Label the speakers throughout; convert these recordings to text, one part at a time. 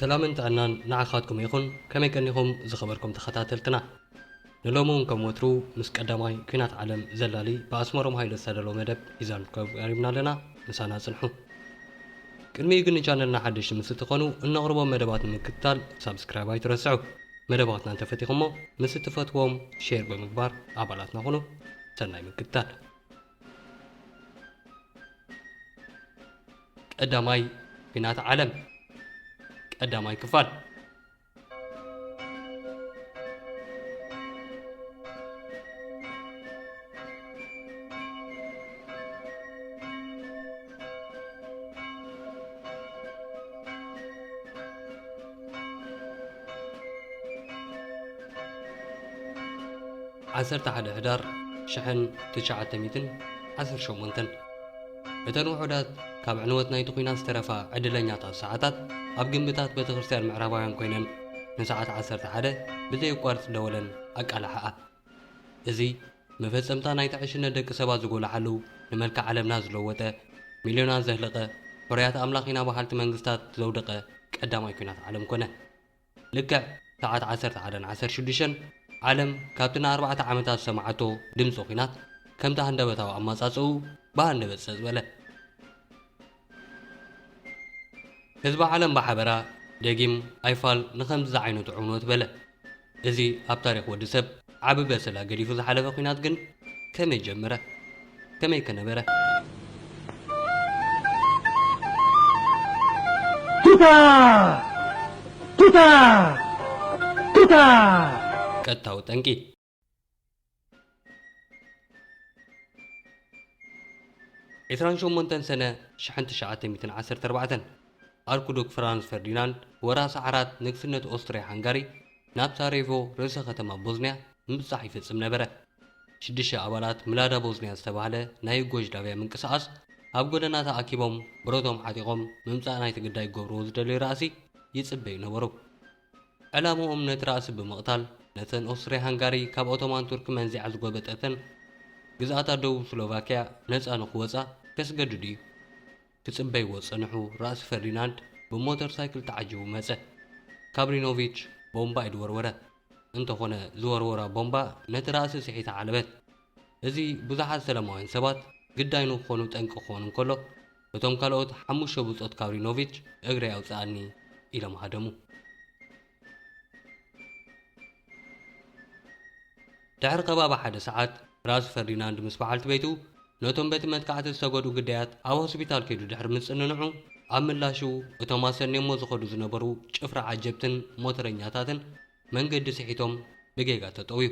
Speaker 1: ሰላምን ጥዕናን ንዓኻትኩም ይኹን ከመይ ቀኒኹም ዝኸበርኩም ተኸታተልትና። ንሎሚ'ውን ከም ወትሩ ምስ ቀዳማይ ኲናት ዓለም ዘላሊ ብኣስመሮም ሃይለ ዝተዳለወ መደብ ሒዛልኩም ቀሪብና ኣለና። ምሳና ጽንሑ። ቅድሚኡ ግን ንቻነልና ሓደሽቲ ምስ እትኾኑ እነቕርቦም መደባት ንምክትታል ሳብስክራይብ ኣይትረስዑ። መደባትና እንተፈቲኹሞ ምስ እትፈትዎም ሼር ብምግባር ኣባላትና ኹኑ። ሰናይ ምክትታል። ቀዳማይ ኲናት ዓለም ቀዳማይ ክፋል ዓሰርተ ሓደ ሕዳር ሽሕን ትሽዓተ ሚእትን ዓሰርተ ሸሞንተን እተን ውሑዳት ካብ ዕንወት ናይቲ ኲናት ዝተረፋ ዕድለኛታት ሰዓታት ኣብ ግምብታት ቤተ ክርስቲያን ምዕራባውያን ኮይነን ንሰዓት ዓሰርተ ሓደ ብዘየቋርጽ ደወለን ኣቃላሕኣ። እዚ መፈጸምታ ናይቲ ዕሽነት ደቂ ሰባት ዝጎላሓሉ ንመልክዕ ዓለምና ዝለወጠ ሚልዮናት ዘህለቐ ሕሩያት ኣምላኽ ኢና በሃልቲ መንግስታት ዘውደቐ ቀዳማይ ኲናት ዓለም ኮነ። ልክዕ ሰዓት ዓሰርተ ሓደን ዓሰርተ ሽዱሽተን ዓለም ካብቲ ንኣርባዕተ ዓመታት ዝሰማዓቶ ድምጺ ኲናት ከምቲ ሃንደበታዊ ኣማጻጽእኡ ብሃንደበት ጸጽ በለ። ህዝቢ ዓለም ብሓበራ ደጊም ኣይፋል ንኸምዚ ዝዓይነቱ ዕንወት በለ። እዚ ኣብ ታሪኽ ወዲ ሰብ ዓቢ በሰላ ገዲፉ ዝሓለፈ ኩናት ግን ከመይ ጀመረ? ከመይ ከ ነበረ?
Speaker 2: ቱታ! ቱታ! ቱታ!
Speaker 1: ቀጥታዊ ጠንቂ ዕስራን ሸሞንተን ሰነ ሽሕን ትሽዓተ ሚእትን ዓሰርተ ኣርባዕተን ኣርኩዱክ ፍራንስ ፈርዲናንድ ወራሲ ዓራት ንግስነት ኦስትርያ ሃንጋሪ ናብ ሳሬቮ ርእሰ ከተማ ቦዝንያ ምብጻሕ ይፍጽም ነበረ። ሽዱሽተ ኣባላት ምላዳ ቦዝንያ ዝተባህለ ናይ ዩጎዥላቪያ ምንቅስቓስ ኣብ ጎደና ተኣኪቦም ብረቶም ዓጢቖም ምምጻእ ናይቲ ግዳይ ክገብርዎ ዝደለዩ ራእሲ ይጽበዩ ነበሩ። ዕላምኦም ነቲ ራእሲ ብምቕታል ነተን ኦስትርያ ሃንጋሪ ካብ ኦቶማን ቱርኪ መንዚዓ ዝጎበጠተን ግዝኣታት ደቡብ ስሎቫክያ ነጻ ንኽወጻ ከስገድዱ እዩ። ክጽበይዎ ዝጸንሑ ራእሲ ፈርዲናንድ ብሞተር ሳይክል ተዓጂቡ መጸ። ካብሪኖቪች ቦምባ ኢድ ወርወረ። እንተኾነ ዝወርወራ ቦምባ ነቲ ራእሲ ስሒታ ዓለበት። እዚ ብዙሓት ሰላማውያን ሰባት ግዳይ ንክኾኑ ጠንቂ ክኾን እንከሎ፣ እቶም ካልኦት ሓሙሽተ ብጾት ካብሪኖቪች እግረይ ኣውጽኣኒ ኢሎም ሃደሙ። ድሕሪ ከባቢ ሓደ ሰዓት ራዝ ፈርዲናንድ ምስ በዓልቲ ቤቱ ነቶም በቲ መጥቃዕቲ ዝተጎድኡ ግዳያት ኣብ ሆስፒታል ከይዱ ድሕሪ ምጽንንዑ ኣብ ምላሹ እቶም ኣሰንዮሞ ዝኸዱ ዝነበሩ ጭፍራ ዓጀብትን ሞተረኛታትን መንገዲ ስሒቶም ብጌጋ ተጠውዩ።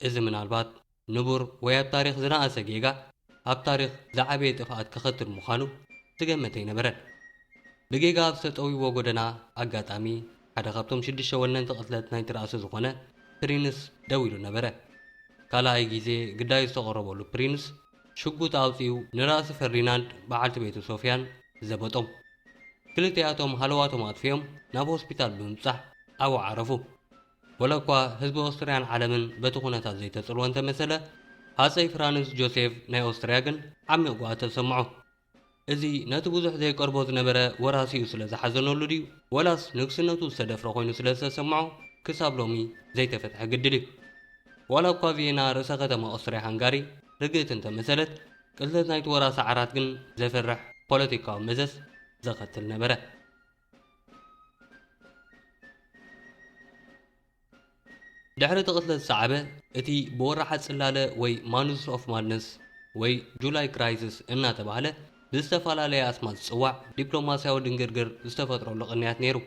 Speaker 1: እዚ ምናልባት ንቡር ወይ ኣብ ታሪኽ ዝነኣሰ ጌጋ ኣብ ታሪኽ ዝዓበየ ጥፍኣት ከኸትል ምዃኑ ዝገመተ ኣይነበረን። ብጌጋ ኣብ ዝተጠውዩዎ ጎደና ኣጋጣሚ ሓደ ካብቶም ሽዱሽተ ወነንቲ ቅትለት ናይቲ ራእሲ ዝኾነ ፕሪንስ ደው ኢሉ ነበረ። ካልኣይ ግዜ ግዳዩ ዝተቐረበሉ ፕሪንስ ሽጉጥ ኣውጺኡ ንራእሲ ፈርዲናንድ በዓልቲ ቤቱ ሶፍያን ዘበጦም። ክልቲኣቶም ሃለዋቶም ኣጥፊኦም ናብ ሆስፒታል ብምብጻሕ ኣብኡ ዓረፉ። ወላ'ኳ ህዝቢ ኦስትርያን ዓለምን በቲ ኩነታት ዘይተጽልወ እንተመሰለ፣ ሃጸይ ፍራንዝ ጆሴፍ ናይ ኦስትርያ ግን ዓሚቕ ጉሃት ተሰምዖ። እዚ ነቲ ብዙሕ ዘይቀርቦ ዝነበረ ወራሲኡ ስለ ዝሓዘነሉ ድዩ ወላስ ንግስነቱ ዝተደፍረ ኮይኑ ስለ ዝተሰምዖ ክሳብ ሎሚ ዘይተፈትሐ ግድል እዩ። ዋላ'ኳ ቪየና ርእሰ ከተማ ኦስትርያ-ሃንጋሪ ርግእቲ እንተመሰለት፣ ቅትለት ናይቲ ወራሲ ዓራት ግን ዘፍርሕ ፖለቲካዊ መዘዝ ዘኸትል ነበረ። ድሕሪ እቲ ቅትለት ዝሰዓበ እቲ ብወርሓ ጽላለ ወይ ማኑዝስ ኦፍ ማድነስ ወይ ጁላይ ክራይስስ እናተባህለ ብዝተፈላለየ ኣስማት ዝጽዋዕ ዲፕሎማስያዊ ድንግርግር ዝተፈጥረሉ ቅንያት ነይሩ።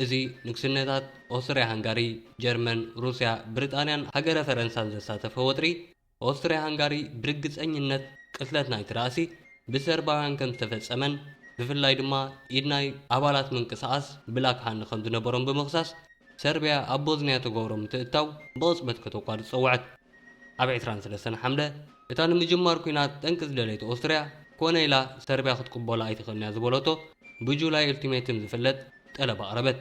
Speaker 1: እዚ ንግስነታት ኦስትርያ ሃንጋሪ፣ ጀርመን፣ ሩስያ፣ ብሪጣንያን ሃገረ ፈረንሳን ዘሳተፈ ወጥሪ፣ ኦስትርያ-ሃንጋሪ ብርግጸኝነት ቅትለት ናይቲ ራእሲ ብሰርባውያን ከም ዝተፈጸመን ብፍላይ ድማ ኢድ ናይ ኣባላት ምንቅስቓስ ብላክ ሃንድ ከም ዝነበሮም ብምኽሳስ ሰርብያ ኣብ ቦዝንያ እተገብሮ ምትእትታው ብቕጽበት ከተቋርጽ ጸውዐት። ኣብ ዕስራን ሰለስተን ሓምለ እታ ንምጅማር ኲናት ጠንቂ ዝደለየት ኦስትርያ ኮነ ኢላ ሰርብያ ክትቅበሎ ኣይትኽእልን እያ ዝበለቶ ብጁላይ ኡልቲሜትም ዝፍለጥ ጠለብ ኣቕረበት።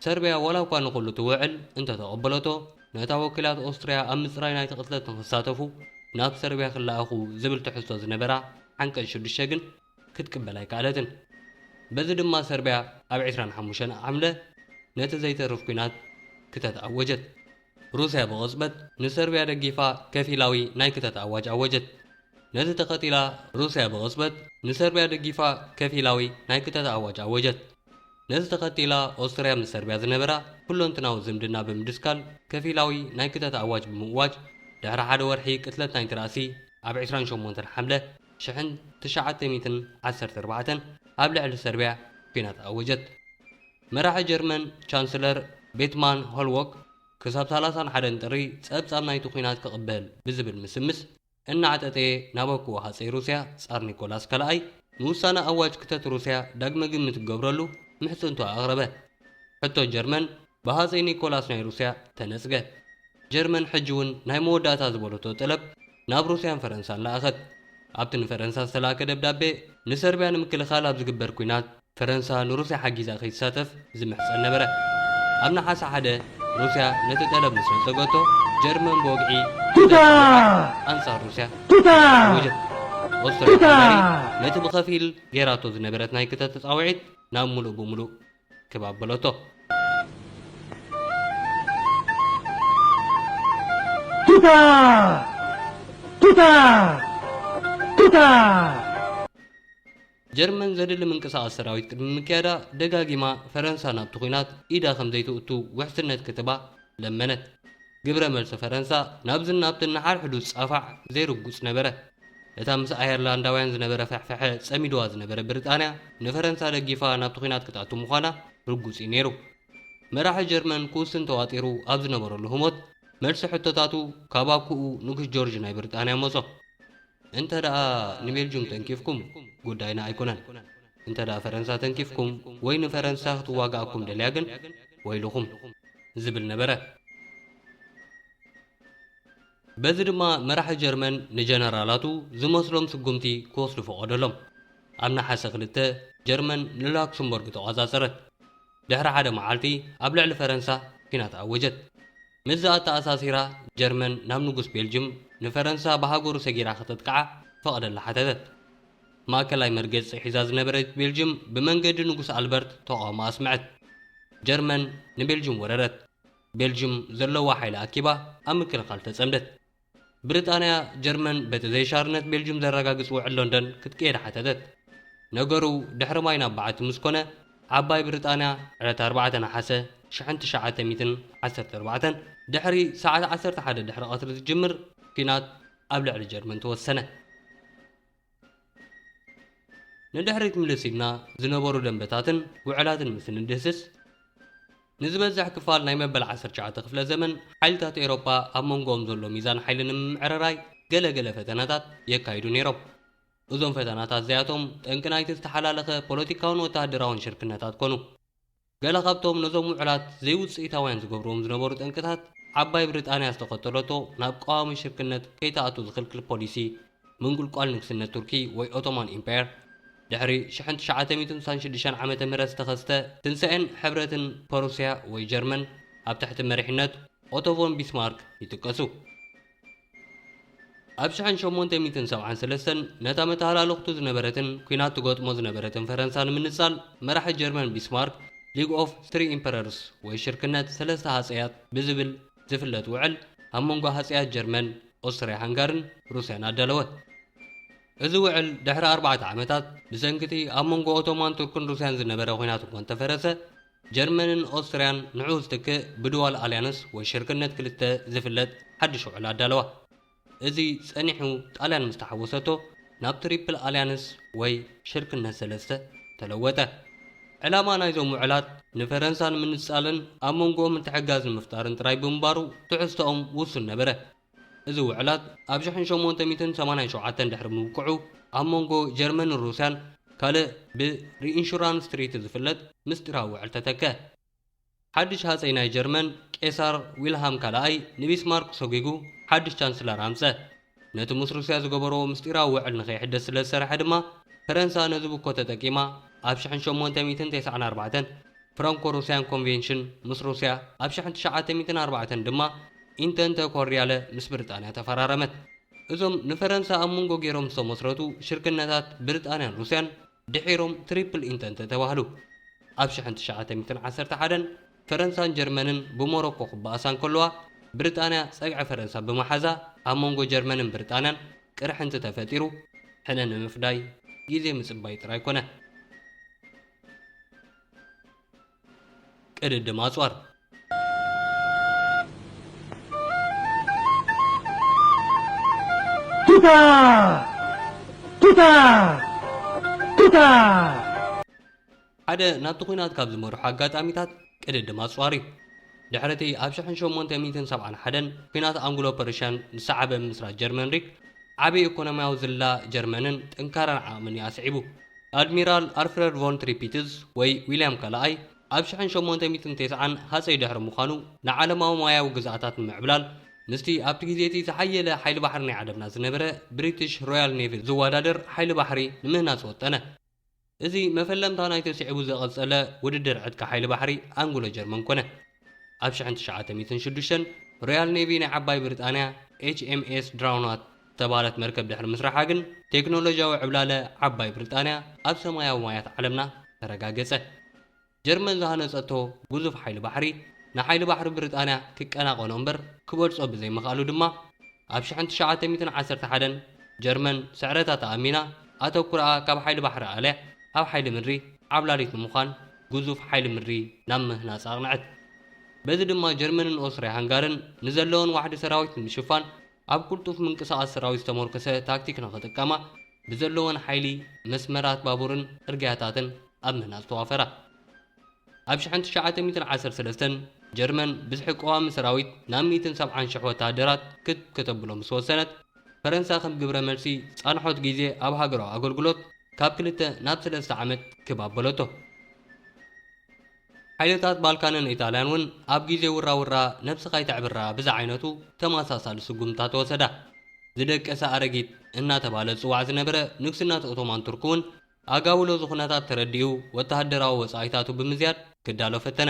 Speaker 1: ሰርብያ ዋላ'ኳ ንኹሉ እቲ ውዕል እንተ ተቐበለቶ፣ ነታ ወኪላት ኦስትርያ ኣብ ምጽራይ ናይቲ ቅትለት ንኽሳተፉ ናብ ሰርብያ ክለኣኹ ዝብል ትሕዝቶ ዝነበራ ዓንቀጽ ሽዱሽተ ግን ክትቅበል ኣይከኣለትን። በዚ ድማ ሰርብያ ኣብ ዕስራን ሓሙሽተን ሓምለ ነቲ ዘይተርፍ ኲናት ክተት ኣወጀት። ሩስያ ብቕጽበት ንሰርብያ ደጊፋ ከፊላዊ ናይ ክተት ኣዋጅ ኣወጀት። ነቲ ተኸቲላ ሩስያ ብቕጽበት ንሰርብያ ደጊፋ ከፊላዊ ናይ ክተት ኣዋጅ ኣወጀት። ነዚ ተኸቲላ ኦስትርያ ምስ ሰርብያ ዝነበራ ኩለንትናዊ ዝምድና ብምድስካል ከፊላዊ ናይ ክተት ኣዋጅ ብምእዋጅ ድሕሪ ሓደ ወርሒ ቅትለት ናይቲ ራእሲ ኣብ ዕስራን ሸሞንተን ሓምለ ሽሕን ትሽዓተ ሚእትን ዓሰርተ ኣርባዕተን ኣብ ልዕሊ ሰርብያ ኲናት ኣወጀት። መራሒ ጀርመን ቻንስለር ቤትማን ሆልዎክ ክሳብ ሰላሳን ሓደን ጥሪ ጸብጻብ ናይቲ ኲናት ክቕበል ብዝብል ምስምስ፣ እናዕጠጠየ ናበኩዎ ሃጸይ ሩስያ ጻር ኒኮላስ ካልኣይ ንውሳነ ኣዋጅ ክተት ሩስያ ዳግመ ግምት ክገብረሉ ምሕጽንቱ ኣቕረበ። ሕቶ ጀርመን ብሃጸይ ኒኮላስ ናይ ሩስያ ተነጽገ። ጀርመን ሕጂውን ናይ መወዳእታ ዝበለቶ ጠለብ ናብ ሩስያን ፈረንሳን ለኣኸት። ኣብቲ ንፈረንሳ ዝተላእከ ደብዳቤ ንሰርብያ ንምክልኻል ኣብ ዝግበር ኩናት፣ ፈረንሳ ንሩስያ ሓጊዛ ከይትሳተፍ ዝምሕጸን ነበረ። ኣብ ነሓሰ ሓደ፣ ሩስያ ነቲ ጠለብ ምስ ነጸገቶ፣ ጀርመን ብወግዒ ጉዳይ ኣውሮጳ ኣንጻር ሩስያ ኣወጀት። ኦስትርያ ሃንጋሪ ነቲ ብኸፊል ገይራቶ ዝነበረት ናይ ክተት ጻውዒት ናብ ምሉእ ብምሉእ ክብ ኣበለቶ። ቱታ ቱታ ቱታ ጀርመን ዘድሊ ምንቅስቓስ ሰራዊት ቅድሚ ምክያዳ፣ ደጋጊማ ፈረንሳ ናብቲ ኲናት ኢዳ ከም ዘይተእቱ ውሕስነት ክትባ ለመነት። ግብረ መልሲ ፈረንሳ ናብዝን ናብትን ንሓድሕዱ ዝጻፋዕ ዘይርጉጽ ነበረ። እታ ምስ ኣየርላንዳውያን ዝነበረ ፍሕፍሐ ጸሚዱዋ ዝነበረ ብሪጣንያ ንፈረንሳ ደጊፋ ናብቲ ኲናት ክትኣቱ ምዃና ርጉጽ እዩ ነይሩ። መራሒ ጀርመን ክውስን ተዋጢሩ ኣብ ዝነበረሉ ህሞት፣ መልሲ ሕቶታቱ ካብ ኣኩኡ ንጉስ ጆርጅ ናይ ብሪጣንያ መጾ። እንተ ደኣ ንቤልጁም ተንኪፍኩም ጉዳይና ኣይኮነን። እንተ ደኣ ፈረንሳ ተንኪፍኩም ወይ ንፈረንሳ ክትዋጋኣኩም ደልያ ግን ወይልኹም። ዝብል ነበረ። በዚ ድማ መራሒ ጀርመን ንጀነራላቱ ዝመስሎም ስጉምቲ ክወስዱ ፈቐደሎም። ኣብ ነሓሰ ክልተ ጀርመን ንላክሰምቦርግ ተቖጻጸረት። ድሕሪ ሓደ መዓልቲ ኣብ ልዕሊ ፈረንሳ ኲናት ኣወጀት። ምስዚ ኣተኣሳሲራ ጀርመን ናብ ንጉስ ቤልጁም ንፈረንሳ ብሃገሩ ሰጊራ ከተጥቅዓ ክፈቐደላ ሓተተት። ማእከላይ መርገጺ ሒዛ ዝነበረት ቤልጁም ብመንገዲ ንጉስ ኣልበርት ተቓውሞ ኣስምዐት። ጀርመን ንቤልጁም ወረረት። ቤልጁም ዘለዋ ሓይሊ ኣኪባ ኣብ ምክልኻል ተጸምደት። ብሪጣንያ፣ ጀርመን በቲ ዘይሻርነት ቤልጁም ዘረጋግጽ ውዕል ሎንደን ክትቅየድ ሓተተት። ነገሩ ድሕሪ ማይ ናብ በዓቲ ምስ ኮነ፣ ዓባይ ብሪጣንያ ዕለት ኣርባዕተ ነሓሰ ሽሕን ትሽዓተ ሚእትን ዓሰርተ ኣርባዕተን ድሕሪ ሰዓት ዓሰርተ ሓደ ድሕሪ ቀትሪ ዝጅምር ኲናት ኣብ ልዕሊ ጀርመን ተወሰነ። ንድሕሪት ምልስ ኢልና ዝነበሩ ደንበታትን ውዕላትን ምስ እንድህስስ ንዝበዝሕ ክፋል ናይ መበል 19 ክፍለ ዘመን ሓይልታት ኤሮፓ ኣብ መንጎኦም ዘሎ ሚዛን ሓይሊ ንምምዕርራይ ገለ ገለ ፈተናታት የካይዱ ነይሮም እዞም ፈተናታት እዚኣቶም ጠንቂ ናይቲ ዝተሓላለኸ ፖለቲካውን ወተሃደራውን ሽርክነታት ኮኑ ገለ ካብቶም ነዞም ውዕላት ዘይውጽኢታውያን ዝገብርዎም ዝነበሩ ጠንቅታት፣ ዓባይ ብሪጣንያ ዝተኸተለቶ ናብ ቀዋሚ ሽርክነት ከይትኣቱ ዝኽልክል ፖሊሲ፣ ምንቁልቋል ንግስነት ቱርኪ ወይ ኦቶማን ኢምፓየር፣ ድሕሪ ሽሕን ትሽዓተ ሚእትን ስሳን ሽዱሽተን ዓመተ ምህረት ዝተኸስተ ትንሳኤን ሕብረትን ፐሩስያ ወይ ጀርመን ኣብ ትሕቲ መሪሕነት ኦቶ ቮን ቢስማርክ ይጥቀሱ። ኣብ ሽሕን ሸሞንተ ሚእትን ሰብዓን ሰለስተን ነታ መተሃላለኽቱ ዝነበረትን ኲናት ትገጥሞ ዝነበረትን ፈረንሳ ንምንጻል መራሒ ጀርመን ቢስማርክ ሊግ ኦፍ ትሪ ኢምፐረርስ ወይ ሽርክነት ሰለስተ ሃጸያት ብዝብል ዝፍለጥ ውዕል ኣብ መንጎ ሃጸያት ጀርመን፣ ኦስትርያ ሃንጋርን ሩስያን ኣዳለወ። እዚ ውዕል ድሕሪ ኣርባዕተ ዓመታት ብሰንኪ'ቲ ኣብ መንጎ ኦቶማን ቱርክን ሩስያን ዝነበረ ኲናት እኳ እንተፈረሰ፣ ጀርመንን ኦስትርያን ንዕኡ ዝትክእ ብድዋል ኣልያንስ ወይ ሽርክነት ክልተ ዝፍለጥ ሓድሽ ውዕል ኣዳለዋ። እዚ ጸኒሑ ጣልያን ምስ ተሓወሰቶ ናብ ትሪፕል ኣልያንስ ወይ ሽርክነት ሰለስተ ተለወጠ። ዕላማ ናይዞም ውዕላት ንፈረንሳ ንምንጻልን ኣብ መንጎኦም ምትሕግጋዝ ንምፍጣርን ጥራይ ብምንባሩ ትሕዝቶኦም ውሱን ነበረ። እዚ ውዕላት ኣብ ሽሕን ሸሞንተ ሚእትን ሰማንያን ሸውዓተን ድሕሪ ምብቅዑ ኣብ መንጎ ጀርመንን ሩስያን ካልእ ብ ሪኢንሹራንስ ትሪቲ ዝፍለጥ ምስጢራዊ ውዕል ተተከ። ሓድሽ ሃጸይ ናይ ጀርመን ቄሳር ዊልሃም ካልኣይ ንቢስማርክ ሰጒጉ ሓድሽ ቻንስለር ኣምጸ። ነቲ ምስ ሩስያ ዝገበርዎ ምስጢራዊ ውዕል ንከይሕደስ ስለ ዝሰርሐ ድማ ፈረንሳ ነዚ ብኮ ተጠቂማ ኣብ ሽሕን ሸሞንተ ሚእትን ተስዓን ኣርባዕተን ፍራንኮ ሩስያን ኮንቬንሽን ምስ ሩስያ ኣብ ሽሕን ትሽዓተ ሚእትን ኣርባዕተን ድማ ኢንተንተ ኮርዲያለ ምስ ብርጣንያ ተፈራረመት። እዞም ንፈረንሳ ኣብ ምንጎ ገይሮም ዝተመስረቱ ሽርክነታት ብርጣንያን ሩስያን ድሒሮም ትሪፕል ኢንተንተ ተባህሉ። ኣብ ሽሕን ትሽዓተ ሚእትን ዓሰርተ ሓደን ፈረንሳን ጀርመንን ብሞሮኮ ክበኣሳ እንከለዋ ብርጣንያ ጸግዒ ፈረንሳ ብምሓዛ ኣብ መንጎ ጀርመንን ብርጣንያን ቅርሕንቲ ተፈጢሩ። ሕነ ንምፍዳይ ግዜ ምጽባይ ጥራይ ኮነ። ቅድድም ኣጽዋር
Speaker 2: ቱታ ቱታ ቱታ
Speaker 1: ሓደ ናብቲ ኲናት ካብ ዝመርሑ ኣጋጣሚታት ቅድድም ኣጽዋር እዩ። ድሕሪ እቲ ኣብ ሽሕን ሸሞንተ ሚእትን ሰብዓን ሓደን ኲናት ኣንግሎ-ፐርሽያን ዝሰዓበ ምምስራት ጀርመን ሪክ፣ ዓቢ ኤኮኖምያዊ ዝላ ጀርመንን ጥንካረን ዓቕምን እዩ ኣስዒቡ። ኣድሚራል ኣርፍረድ ቮን ትሪፒትዝ ወይ ዊልያም ካልኣይ፣ ኣብ ሽሕን ሸሞንተ ሚእትን ቴስዓን ሃጸይ ድሕሪ ምዃኑ፣ ንዓለማዊ ማያዊ ግዝኣታት ንምዕብላል ምስቲ ኣብቲ ግዜ እቲ ዝሓየለ ሓይሊ ባሕሪ ናይ ዓለምና ዝነበረ ብሪትሽ ሮያል ኔቪ ዝወዳደር ሓይሊ ባሕሪ ንምህናጽ ወጠነ። እዚ መፈለምታ ናይቲ ስዒቡ ዘቐጸለ ውድድር ዕጥቂ ሓይሊ ባሕሪ ኣንግሎ ጀርመን ኮነ። ኣብ ሽሕን ትሽዓተ ሚእትን ሽዱሽተን ሮያል ኔቪ ናይ ዓባይ ብሪጣንያ ኤችኤምኤስ ድራውናት ዝተባህለት መርከብ ድሕሪ ምስራሓ ግን ቴክኖሎጂያዊ ዕብላለ ዓባይ ብሪጣንያ ኣብ ሰማያዊ ማያት ዓለምና ተረጋገጸ። ጀርመን ዝሃነጸቶ ግዙፍ ሓይሊ ባሕሪ፣ ንሓይሊ ባሕሪ ብሪጣንያ ክቀናቐኖ እምበር ክበልጾ ብዘይምኽኣሉ ድማ፣ ኣብ ሽሕን ትሽዓተ ሚእትን ዓሰርተ ሓደን፣ ጀርመን ስዕረታ ተኣሚና፣ ኣተኩሮኣ ካብ ሓይሊ ባሕሪ ኣልያ ኣብ ሓይሊ ምድሪ ዓብላሊት ንምዃን ግዙፍ ሓይሊ ምድሪ ናብ ምህናጽ ኣቕንዐት። በዚ ድማ ጀርመንን ኦስትርያ-ሃንጋርን ንዘለወን ዋሕዲ ሰራዊት ንምሽፋን፣ ኣብ ቅልጡፍ ምንቅስቓስ ሰራዊት ዝተሞርከሰ ታክቲክ ንኽጥቀማ ብዘለወን ሓይሊ መስመራት ባቡርን ጽርግያታትን ኣብ ምህናጽ ተዋፈራ። ኣብ ሽሕን ትሽዓተ ሚእትን ዓሰርተ ሰለስተን ጀርመን ብዝሒ ቀዋሚ ሰራዊት ናብ ሚእትን ሰብዓን ሽሕ ወተሃደራት ክብ ከተብሎ ምስ ወሰነት፣ ፈረንሳ ከም ግብረ መልሲ ጻንሖት ግዜ ኣብ ሃገራዊ ኣገልግሎት ካብ ክልተ ናብ ሰለስተ ዓመት ክብ ኣበለቶ። ሓይልታት ባልካንን ኢጣልያን እውን ኣብ ግዜ ውራውራ ነብስኻ ኣይተዕብራ ብዝዓይነቱ ተመሳሳሊ ስጉምትታት ተወሰዳ። ዝደቀሰ ኣረጊት እናተባህለ ዝጽዋዕ ዝነበረ ንግስነት ኦቶማን ቱርክ እውን ኣጋዊ ሎዚ ኩነታት ተረዲኡ ወተሃደራዊ ወጻኢታቱ ብምዝያድ ክዳሎ ፈተነ።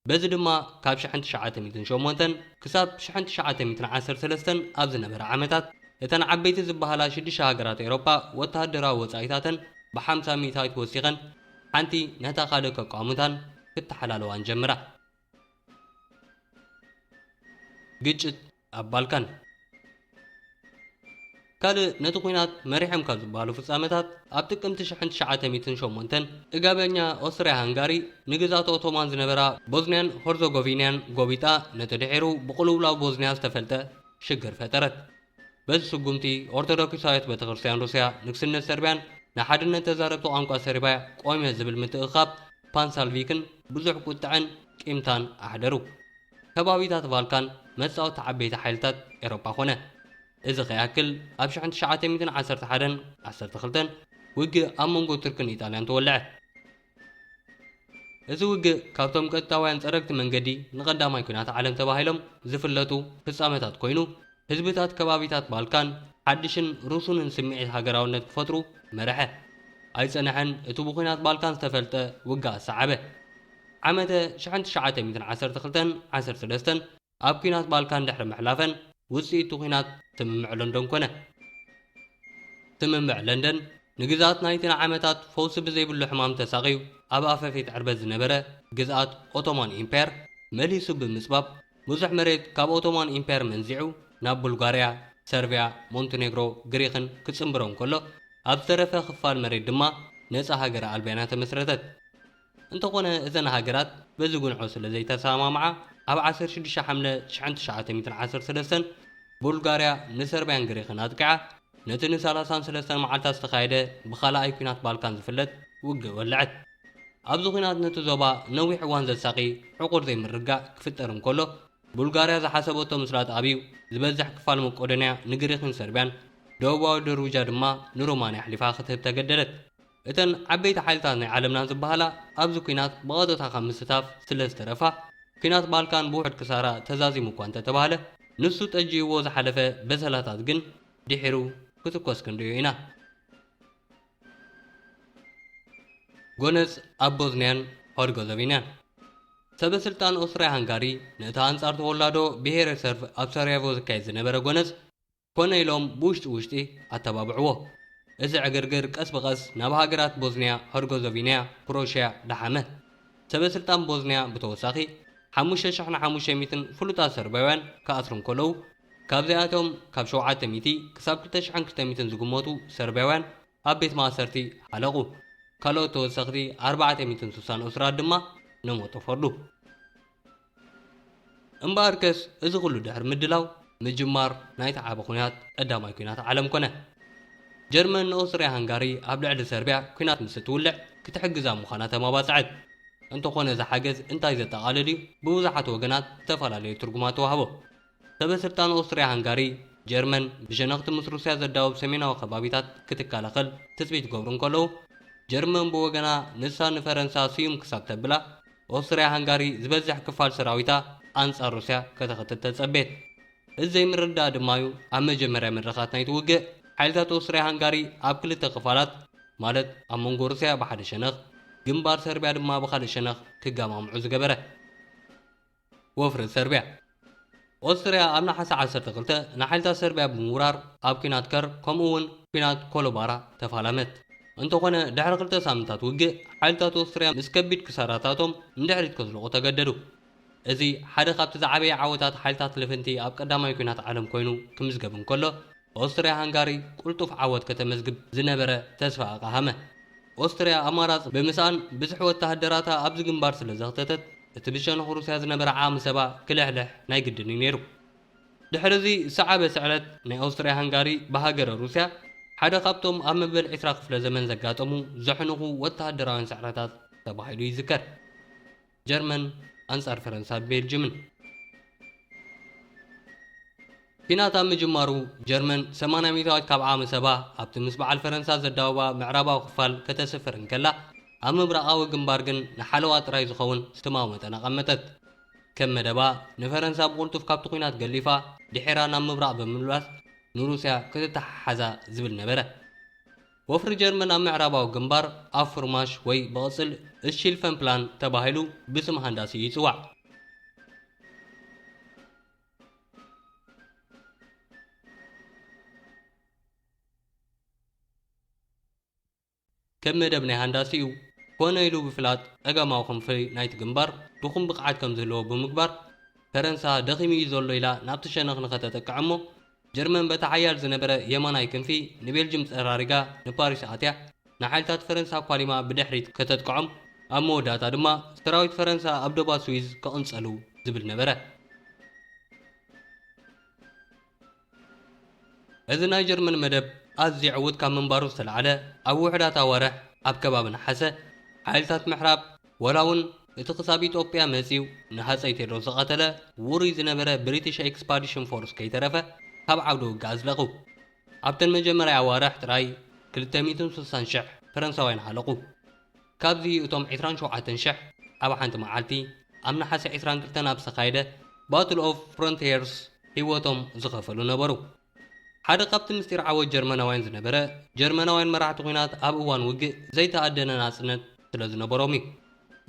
Speaker 1: በዚ ድማ ካብ ሽሕን ትሽዓተ ሚእትን ሸሞንተን ክሳብ ሽሕን ትሽዓተ ሚእትን ዓሰርተ ሰለስተን ኣብ ዝነበረ ዓመታት እተን ዓበይቲ ዝበሃላ ሽዱሽተ ሃገራት ኤሮጳ ወተሃደራዊ ወጻኢታተን ብሓምሳ ሚእታዊት ወሲኸን ሓንቲ ነታ ካልእ ከቋሙታን ክተሓላለዋን ጀምራ። ግጭት ኣብ ባልካን ካልእ ነቲ ኩናት መሪሖም ካብ ዝበሃሉ ፍጻመታት ኣብ ጥቅምቲ ሽሕን ትሽዓተ ሚእትን ሸሞንተን ጥጋበኛ ኦስትርያ ሃንጋሪ ንግዝኣት ኦቶማን ዝነበራ ቦዝንያን ሆርዞጎቪንያን ጎቢጣ ነቲ ድሒሩ ብቅልውላው ቦዝንያ ዝተፈልጠ ሽግር ፈጠረት። በዚ ስጉምቲ ኦርቶዶክሳዊት ቤተክርስትያን ሩስያ ንግስነት ሰርብያን ንሓድነት ተዛረብቲ ቋንቋ ሰርብያ ቆምዮ ዝብል ምትእኽኻብ ፓንሳልቪክን ብዙሕ ቁጥዐን ቂምታን ኣሕደሩ። ከባቢታት ቫልካን መጻወቲ ዓበይቲ ሓይልታት ኤሮጳ ኮነ። እዚ ከይኣክል ኣብ ሽሕን ትሽዓተ ሚእትን ዓሰርተ ሓደን ዓሰርተ ክልተን ውግእ ኣብ መንጎ ቱርክን ኢጣልያን ተወልዐ። እዚ ውግእ ካብቶም ቀጥታውያን ጸረግቲ መንገዲ ንቀዳማይ ኲናት ዓለም ተባሂሎም ዝፍለጡ ፍጻመታት ኮይኑ፣ ህዝብታት ከባቢታት ባልካን ሓድሽን ርሱንን ስምዒት ሃገራውነት ክፈጥሩ መረሐ። ኣይጸነሐን እቲ ብኲናት ባልካን ዝተፈልጠ ውግኣት ሰዓበ። ዓመተ ሽሕን ትሽዓተ ሚእትን ዓሰርተ ክልተን ዓሰርተ ሰለስተን፣ ኣብ ኲናት ባልካን ድሕሪ ምሕላፈን ውጽኢት'ቲ ኲናት ስምምዕ ለንዶን ኮነ። ስምምዕ ለንደን ንግዝኣት ናይቲ ንዓመታት ፈውሲ ብዘይብሉ ሕማም ተሳቕዩ ኣብ ኣፈፌት ዕርበት ዝነበረ ግዝኣት ኦቶማን ኢምፓየር መሊሱ ብምጽባብ ብዙሕ መሬት ካብ ኦቶማን ኢምፓየር መንዚዑ ናብ ቡልጋርያ፣ ሰርብያ፣ ሞንተኔግሮ፣ ግሪኽን ክጽንብሮ እንከሎ ኣብ ዝተረፈ ክፋል መሬት ድማ ነጻ ሃገረ ኣልባንያ ተመስረተት። እንተኾነ እተን ሃገራት በዚ ጉንዖ ስለ ዘይተሰማምዓ ኣብ ዓሰርተ ሽዱሽተ ሓምለ ሽሕን ትሽዓተ ሚእትን ዓሰርተ ሰለስተን ቡልጋርያ ንሰርብያን ግሪኽን ኣጥቂዓ ነቲ ንሰላሳን ሰለስተን መዓልታት ዝተኻየደ ብኻልኣይ ኲናት ባልካን ዝፍለጥ ውግእ ወለዐት። ኣብዚ ኲናት ነቲ ዞባ ነዊሕ እዋን ዘሳቒ ዕቑር ዘይምርግጋእ ክፍጠር እንከሎ ቡልጋርያ ዝሓሰበቶ ምስላጥ ኣብዩ ዝበዝሕ ክፋል መቆዶንያ ንግሪኽን ሰርብያን ደቡባዊ ደርቡጃ ድማ ንሮማንያ ኣሕሊፋ ክትህብ ተገደደት። እተን ዓበይቲ ሓይልታት ናይ ዓለምና ዝበሃላ ኣብዚ ኲናት ብቐጥታ ካብ ምስታፍ ስለ ዝተረፋ፣ ኲናት ባልካን ብውሑድ ክሳራ ተዛዚሙ እኳ እንተ ተባህለ፣ ንሱ ጠጅዩዎ ዝሓለፈ በሰላታት ግን ድሒሩ ክትኮስ ክንርእዮ ኢና። ጎነጽ ኣብ ቦዝንያን ሆርገዘቪንያን። ሰበ ስልጣን ኦስትርያ-ሃንጋሪ፣ ነቲ ኣንጻር ተወላዶ ብሄረ ሰርቭ ኣብ ሳራየቮ ዝካየድ ዝነበረ ጎነጽ፣ ኮነ ኢሎም ብውሽጢ ውሽጢ ኣተባብዕዎ። እቲ ዕግርግር ቀስ ብቐስ ናብ ሃገራት ቦዝንያ ሀርጎዘቪንያ፣ ክሮሽያ፣ ደሓመ። ሰበስልጣን ቦዝንያ ብተወሳኺ ሓሙሽተ ሽሕ ን ሓሙሽተ ሚትን ፍሉጣት ሰርብያውያን ክኣስሩ እንከለዉ፣ ካብዚኣቶም ካብ ሸውዓተ ሚእቲ ክሳብ ክልተ ሽሕን ክልተ ሚትን ዝግመቱ ሰርብያውያን ኣብ ቤት ማእሰርቲ ሓለቑ። ካልኦት ተወሰኽቲ ኣርባዕተ ሚትን ስሳን እሱራት ድማ ንሞት ተፈርዱ። እምበኣርከስ እዚ ዅሉ ድሕሪ ምድላው ምጅማር ናይቲ ዓቢ ኲናት ቀዳማይ ኲናት ዓለም ኰነ። ጀርመን ንኦስትርያ-ሃንጋሪ ኣብ ልዕሊ ሰርብያ ኲናት ምስ እትውልዕ ክትሕግዛ ምዃና ተማባጽዐት። እንተዀነ እዚ ሓገዝ እንታይ ዘጠቓልል እዩ ብብዙሓት ወገናት ዝተፈላለየ ትርጕማት ተዋህቦ። ሰበ-ስልጣን ኦስትርያ ሃንጋሪ፣ ጀርመን ብሸነኽቲ ምስ ሩስያ ዘዳውብ ሰሜናዊ ከባቢታት ክትከላኸል ትጽቢት ክገብሩ እንከለዉ፣ ጀርመን ብወገና ንሳ ንፈረንሳ ስዩም ክሳብ ተብላ፣ ኦስትርያ ሃንጋሪ ዝበዝሕ ክፋል ሰራዊታ ኣንጻር ሩስያ ከተኸትት ተጸቤት። እዚ ዘይምርድዳእ ድማ'ዩ ኣብ መጀመርያ መድረኻት ናይቲ ውግእ፣ ሓይልታት ኦስትርያ ሃንጋሪ ኣብ ክልተ ክፋላት፣ ማለት ኣብ መንጎ ሩስያ ብሓደ ሸነኽ፣ ግንባር ሰርብያ ድማ ብኻልእ ሸነኽ ክገማምዑ ዝገበረ። ወፍሪ ሰርብያ ኦስትርያ ኣብ ነሓሰ ዓሰርተ ክልተ ንሓይልታት ሰርብያ ብምውራር ኣብ ኲናት ከር ከምኡ እውን ኲናት ኮሎባራ ተፋላመት። እንተኾነ ድሕሪ ክልተ ሳምንታት ውግእ ሓይልታት ኦስትርያ ምስ ከቢድ ክሳራታቶም ንድሕሪት ከዝልቑ ተገደዱ። እዚ ሓደ ካብቲ ዝዓበየ ዓወታት ሓይልታት ልፍንቲ ኣብ ቀዳማይ ኲናት ዓለም ኮይኑ ክምዝገብ እንከሎ፣ ኦስትርያ ሃንጋሪ ቅልጡፍ ዓወት ከተመዝግብ ዝነበረ ተስፋ ኣቕሃመ። ኦስትርያ ኣማራጺ ብምስኣን ብዝሒ ወተሃደራታ ኣብዚ ግንባር ስለ ዘኽተተት እቲ ብሸነኽ ሩስያ ዝነበረ ዓቕሚ ሰባ ክልሕልሕ ናይ ግድን እዩ ነይሩ። ድሕሪ እዚ ዝሰዓበ ስዕረት ናይ ኦስትርያ ሃንጋሪ ብሃገረ ሩስያ ሓደ ካብቶም ኣብ መበል ዕስራ ክፍለ ዘመን ዘጋጠሙ ዘሕንኹ ወተሃደራውያን ስዕረታት ተባሂሉ ይዝከር። ጀርመን ኣንጻር ፈረንሳን ቤልጅምን። ኲናት ኣብ ምጅማሩ፣ ጀርመን ሰማንያ ሚእታዊት ካብ ዓመሰባ ኣብቲ ምስ በዓል ፈረንሳ ዘዳውባ ምዕራባዊ ክፋል ከተስፍር እንከላ፣ ኣብ ምብራቓዊ ግንባር ግን ንሓለዋ ጥራይ ዝኸውን ስትማዊ መጠን ኣቐመጠት። ከም መደባ፣ ንፈረንሳ ብቕልጡፍ ካብቲ ኲናት ገሊፋ ድሒራ ናብ ምብራቕ ብምምላስ ንሩስያ ክትተሓሓዛ ዝብል ነበረ። ወፍሪ ጀርመን ኣብ ምዕራባዊ ግንባር ኣብ ፉርማሽ ወይ ብቕጽል እሺልፈንፕላን ተባሂሉ ብስም ሃንዳሲኡ ይጽዋዕ። ከም መደብ ናይ ሃንዳሲኡ ኮነ ኢሉ ብፍላጥ ጸጋማዊ ክንፊ ናይቲ ግንባር ድኹም ብቕዓት ከም ዝህልዎ ብምግባር፣ ፈረንሳ ደኺሙ እዩ ዘሎ ኢላ ናብቲ ሸነኽ ንኸተጥቅዕ እሞ ጀርመን በቲ ሓያል ዝነበረ የማናይ ክንፊ ንቤልጅም ጸራሪጋ ንፓሪስ ኣትያ ንሓይልታት ፈረንሳ ኳሊማ ብድሕሪት ከተጥቅዖም ኣብ መወዳእታ ድማ ሰራዊት ፈረንሳ ኣብ ዶባት ስዊዝ ክቕንጸሉ ዝብል ነበረ። እዚ ናይ ጀርመን መደብ ኣዝዩ ዕዉት ካብ ምንባሩ ዝተላዕለ ኣብ ውሑዳት ኣዋርሕ ኣብ ከባቢ ነሓሰ ሓይልታት ምሕራብ ወላ ውን እቲ ክሳብ ኢጦጵያ መጺኡ ንሃጸይ ቴድሮስ ዝቐተለ ውሩይ ዝነበረ ብሪቲሽ ኤክስፓዲሽን ፎርስ ከይተረፈ ካብ ዓውደ ውግእ ኣዝለቑ። ኣብተን መጀመርያ ኣዋርሕ ጥራይ ክልተ ሚእትን ስሳን ሽሕ ፈረንሳውያን ሃለቑ። ካብዚ እቶም ዕስራን ሸውዓተን ሽሕ ኣብ ሓንቲ መዓልቲ ኣብ ነሓሰ ዕስራን ክልተን ኣብ ዝተኻየደ ባትል ኦፍ ፍሮንትየርስ ህይወቶም ዝኸፈሉ ነበሩ። ሓደ ካብቲ ምስጢር ዓወት ጀርመናውያን ዝነበረ፣ ጀርመናውያን መራሕቲ ኲናት ኣብ እዋን ውግእ ዘይተኣደነ ናጽነት ስለ ዝነበሮም እዩ።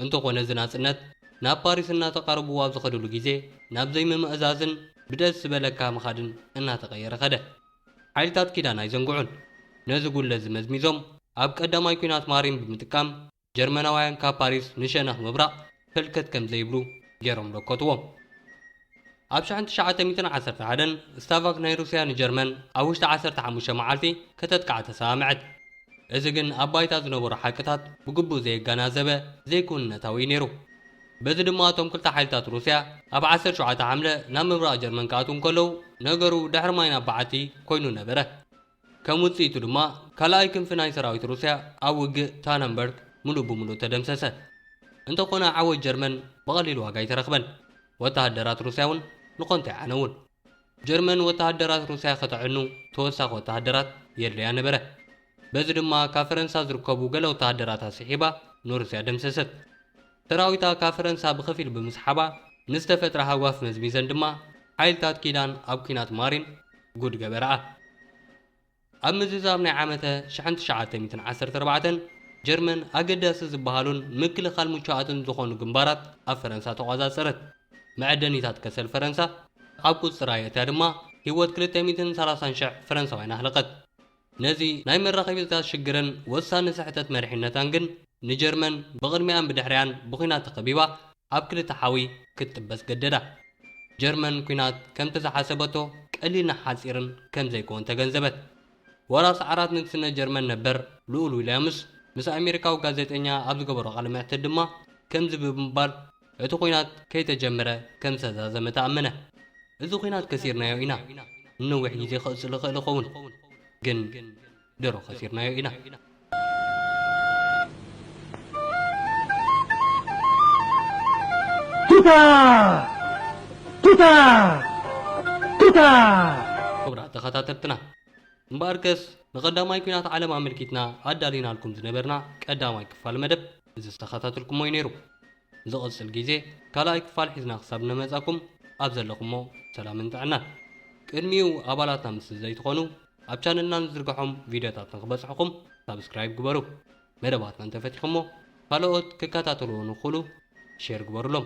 Speaker 1: እንተኾነ እዚ ናጽነት ናብ ፓሪስ እናተቓረብዎ ኣብ ዝኸድሉ ግዜ ናብ ዘይምምእዛዝን ብደስ ዝበለካ ምኻድን እናተቐየረ ከደ። ሓይልታት ኪዳን ኣይዘንግዑን። ነዚ ጉድለት'ዚ መዝሚዞም ኣብ ቀዳማይ ኲናት ማሪን ብምጥቃም ጀርመናውያን ካብ ፓሪስ ንሸነኽ ምብራቕ ፈልከት ከም ዘይብሉ ገይሮም ደከትዎ። ኣብ ሽሕን ትሽዓተ ሚእትን ዓሰርተ ሓደን ስታቫክ ናይ ሩስያ ንጀርመን ኣብ ውሽጢ ዓሰርተ ሓሙሽተ መዓልቲ ከተጥቅዓ ተሰማምዐት። እዚ ግን ኣብ ባይታ ዝነበሩ ሓቅታት ብግቡእ ዘየጋናዘበ ዘይክውንነታዊ እዩ ነይሩ። በዚ ድማ እቶም ክልተ ሓይልታት ሩስያ ኣብ ዓሰርተ ሸውዓተ ሓምለ ናብ ምብራቕ ጀርመን ክኣትዉ እንከለዉ ነገሩ ድሕሪ ማይ ናብ በዓቲ ኮይኑ ነበረ። ከም ውጽኢቱ ድማ ካልኣይ ክንፊ ናይ ሰራዊት ሩስያ ኣብ ውግእ ታነንበርግ ምሉእ ብምሉእ ተደምሰሰ። እንተኾነ ዓወት ጀርመን ብቐሊል ዋጋ ኣይተረኽበን፣ ወተሃደራት ሩስያ'ውን ንኮንታይ ዓነዉን። ጀርመን ወተሃደራት ሩስያ ከተዕኑ ተወሳኺ ወተሃደራት የድልያ ነበረ። በዚ ድማ ካብ ፈረንሳ ዝርከቡ ገለ ወተሃደራታ ስሒባ ንሩስያ ደምሰሰት። ሰራዊታ ካብ ፈረንሳ ብኸፊል ብምስሓባ ንዝተፈጥረ ሃጓፍ መዝሚዘን ድማ ሓይልታት ኪዳን ኣብ ኲናት ማሪን ጉድ ገበርኣ። ኣብ ምዝዛም ናይ ዓመተ ሽሕን ትሽዓተ ሚእትን ዓሰርተ ኣርባዕተን ጀርመን ኣገዳሲ ዝበሃሉን ምክልኻል ምቹኣትን ዝኾኑ ግንባራት ኣብ ፈረንሳ ተቖጻጸረት። መዐደኒታት ከሰል ፈረንሳ ኣብ ቁጽጽራ የእትያ ድማ ህይወት ክልተ ሚእትን ሰላሳን ሽሕ ፈረንሳውያን ኣህለቐት። ነዚ ናይ መራኸቢታት ሽግርን ወሳኒ ስሕተት መሪሕነታን ግን ንጀርመን ብቕድሚኣን ብድሕሪኣን ብኩናት ተኸቢባ ኣብ ክልተ ሓዊ ክትጥበስ ገደዳ። ጀርመን ኩናት ከምቲ ዝሓሰበቶ ቀሊልን ሓጺርን ከም ዘይኮን ተገንዘበት። ወራስ ዓራት ንግስነት ጀርመን ነበር ልኡል ዊልያምስ ምስ ኣሜሪካዊ ጋዜጠኛ ኣብ ዝገበሮ ቃለ መሕትት ድማ ከምዚ ብምባል እቲ ኹናት ከይተጀምረ ከም ዝተዛዘመ ተኣመነ። እዚ ኹናት ከሲርናዮ ኢና፣ ንነዊሕ ግዜ ክቕጽል ይኽእል ይኸውን፣ ግን ድሮ ከሲርናዮ ኢና። ክቡራት ተኸታተልትና፣ እምበኣርከስ ንቀዳማይ ኲናት ዓለም ኣመልኪትና ኣዳሊናልኩም ዝነበርና ቀዳማይ ክፋል መደብ፣ ዝተኸታተልኩሞ እዩ ነይሩ ዝቕጽል ግዜ ካልኣይ ክፋል ሒዝና ክሳብ እነመጻኩም ኣብ ዘለኹሞ ሰላምን ጥዕናን ቅድሚኡ ኣባላትና ምስ ዘይትኾኑ ኣብ ቻነልና ንዝርግሖም ቪድዮታት ንክበጽሕኹም ሳብስክራይብ ግበሩ መደባትና እንተፈቲኹሞ ካልኦት ክከታተልዎ ንክእሉ ሼር ግበሩሎም